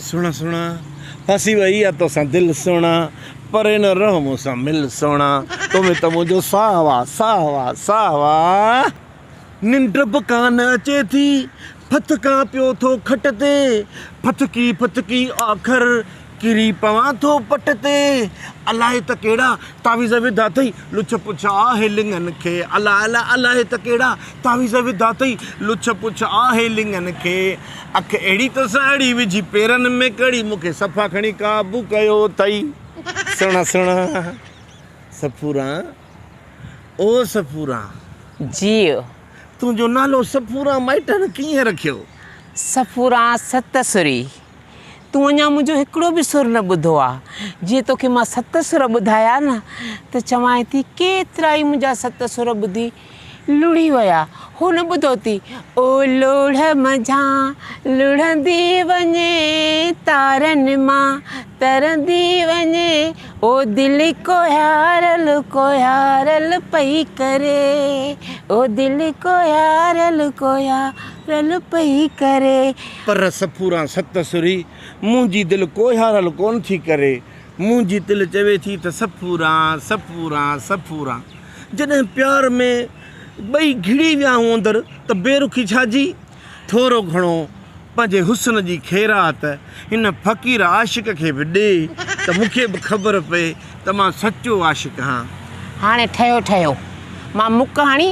سهڻا سهڻا ڦاسي وئي آ توسان دل سهڻا پري نه رهه مون سان مل سهڻا تو ۾ ته منهنجو ساهه وا ساهه وا ساهه وا ننڊ به ڪانه اچي ٿي ڦٿڪان پيو ٿو کٽ تي ڦٿڪي ڦٿڪي آخر ڪري پوان ٿو پٽ تي الائي ته ڪهڙا تعويذ وڌا اٿئي لڇ پڇ آهي لڱن کي الا الا الائي ته ڪهڙا تعويذ وڌا اٿئي لڇ پڇ آهي لڱن کي اک اهڙي تو سان اڙي وجهي پيرن ۾ ڪڙي مون کي صفا کڻي قابو ڪيو اٿئي سهڻا سهڻا سفورا او سفورا جيء تنهنجو نالو سفورا مائٽن ڪيئن رکيو؟ سفورا ست سري تون اڃا منهنجو هڪڙو به سر نه ٻڌو آ جي توکي مان ست سر ٻڌايا نه ته چوانء ٿي ڪيترائي منهنجا ست سر ٻڌي لڙهي ويا، هن ٻڌو ٿي، او لوڙهه منجهان لڙهندي وڃي تارن مان ترندي وڃي، او دل ڪوهيارل ڪوهيارل پئي ڪري، او دل ڪوهيارل ڪوهيارل پئي ڪري. پر سپوران ست سرهي، منهنجي دل ڪوهيارل ڪونه ٿي ڪري، منهنجي دل چوي ٿي ته سپوران سپوران سپوران. جڏهن پيار ۾ ٻئي گهڙي ويا هون اندر ته بي رخي ڇا جي؟ ٿورو گهڻو پنهنجي حسن جي خيرات هن فقير عاشق کي به ڏي ته مون کي به خبر پئي ته مان سچو عاشق هان. هاڻي ٺهيو ٺهيو. مان مڪ هڻي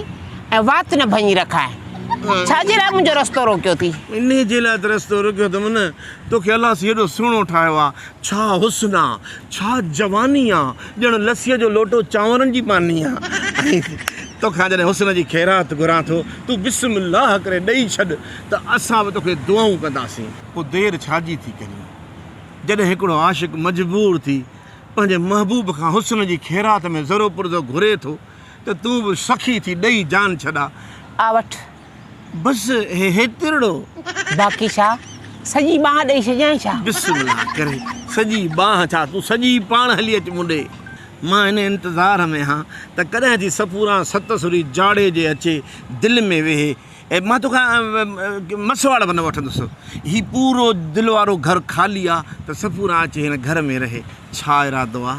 ۽ وات نه ڀڃي رکانء. ڇا جي لاء منهنجو رستو روڪيو ٿي؟ انهيء جي لاء ته رستو روڪيو اٿم نه. توکي الله سين هيڏو سهڻو ٺاهيو آ ڇا حسن آ، ڇا جواني آ، ڄڻ لسيء جو لوٽو چانورن جي پاني آ. توکان جڏهن حسن جي خيرات گهران ٿو، تون بسم الله ڪري ڏئي ڇڏ ته اسان به توکي دعائون ڪنداسين. پوء دير ڇاجي ٿي ڪرين؟ جڏهن هڪڙو عاشق مجبور ٿي پنهنجي محبوب کان حسن جي خيرات ۾ ذرو پرزو گهري ٿو ته تون به سخي ٿي ڏئي جان ڇڏ آ. آ وٺ بس هيترڙو. باقي ڇا سڄي ٻانهن ڏئي ڇڏيانء ڇا؟ بسم الله ڪري سڄي ٻانهن ڇا تون سڄي پاڻ هلي اچ مون ڏي. مان ان انتظار ۾ هان ته ڪڏهن ٿي صفوران ست سري جاڙي جي اچي دل ۾ ويهي. مان توکان مسواڙ به نه وٺندس. هي پورو دل وارو گهر خالي آ ته صفوران اچي هن گهر ۾ رهي. ڇا ارادو آ؟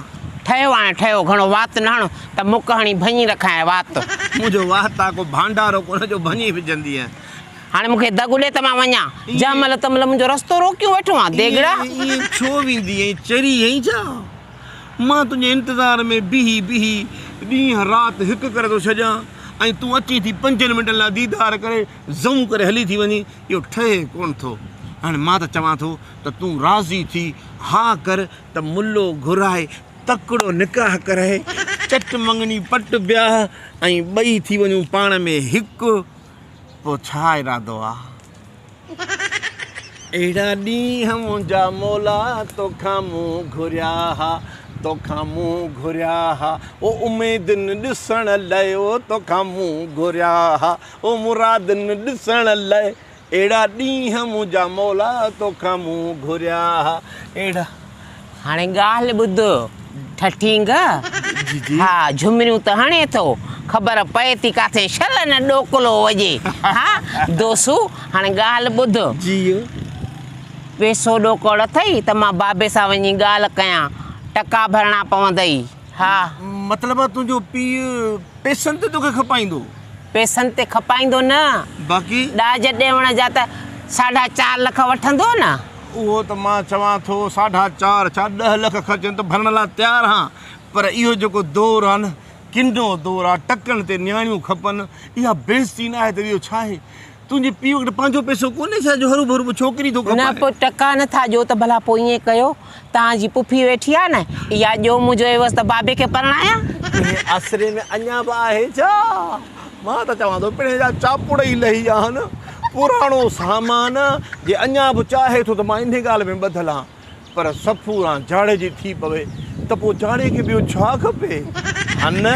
ٺهيو آهيان ٺهيو، گهڻو وات نه هڻ ته مڪ هڻي ڀڃي رکانء وات. منهنجو وات آ ڪو ڀانڊارو ڪونه جو ڀڃي وجهندينء. هاڻي مون کي دڳ ڏي ته مان وڃان، جنهن مهل تنهن مهل منهنجو رستو روڪيون ويٺو آن، ديڳڙا! ائين ڇو ويندي آهين، چري آهين ڇا؟ مان تنهنجي انتظار ۾ بيهي بيهي ڏينهن رات هڪ ڪري ٿو ڇڏيان ۽ تون اچين ٿي پنجن منٽن لاء ديدار ڪري زئون ڪري هلي ٿي وڃين، اهو ٺهي ڪونه ٿو. هاڻي مان ته چوان ٿو. ته تون راضي ٿي ها ڪر ته ملو گهرائي تڪڙو نڪاح ڪرائي چٽ مڱڻي پٽ بياهه ۽ ٻئي ٿي وڃون پاڻ ۾ هڪ پوء ڇا ارادو آ؟ اهڙا ڏينهن منهنجا مولا توکان مون گهريا ها توکان مون گهريا ها او اميدن ڏسڻ لئه او توکان مون گهريا ها او مرادن ڏسڻ لئه اهڙا ڏينهن منهنجا مولا توکان مون گهريا اهڙا. هاڻي ڳالهه ٻڌ ٺٺينگ. جي جي. ها جهمريون ته هڻي ٿو خبر پئي ٿي ڪاٿي شل نه ڏوڪلو وڄي ها دوسو هاڻي ڳالهه ٻڌ. جيء. پئسو ڏوڪڙ اٿئي ته مان بابي سان وڃي ڳالهه ڪيان ٽڪا ڀرڻا پوندئي. ها. مطلب آ تنهنجو پيء پيسن تي توکي کپائيندو؟ پيسن تي کپائيندو نه. باقي؟ ڏاج ڏيوڻ جا ته ساڍا چار لک وٺندو نه. اهو ته مان چوان ٿو ساڍا چار ڇا ڏهه لک خرچين ته ڀرڻ لاء تيار هان. پر اهو جيڪو دور آ نه ڪنو دور آ. ٽڪن تي نياڻيون کپن. اها بيعزتي نه آهي ته ٻيو ڇا آهي. تنهنجي پيء وٽ پنهنجو پئسو ڪونهي ڇا جو هروڀرو ٻه ڇوڪري ٿو ڪمائي. نه پوء ٽڪا نه ٿا ڏيو ته ڀلا پوء ائين ڪيو توهان جي پڦي ويٺي آهي نه اها ڄو مون جو عيوض ته بابي کي پرڻايان. تنهنجي آسري ۾ اڃا به آهي ڇا؟ مان ته چوان ٿو پڻهين جا چاپڙ ئي لهي ويا آهن. پراڻو سامان جي اڃا به چاهي ٿو ته مان انهي ڳالهه ۾ ٻڌل آهان پر سفوران جاڙي جي ٿي پوي ته پوء جاڙي کي ٻيو ڇا کپي هان نه؟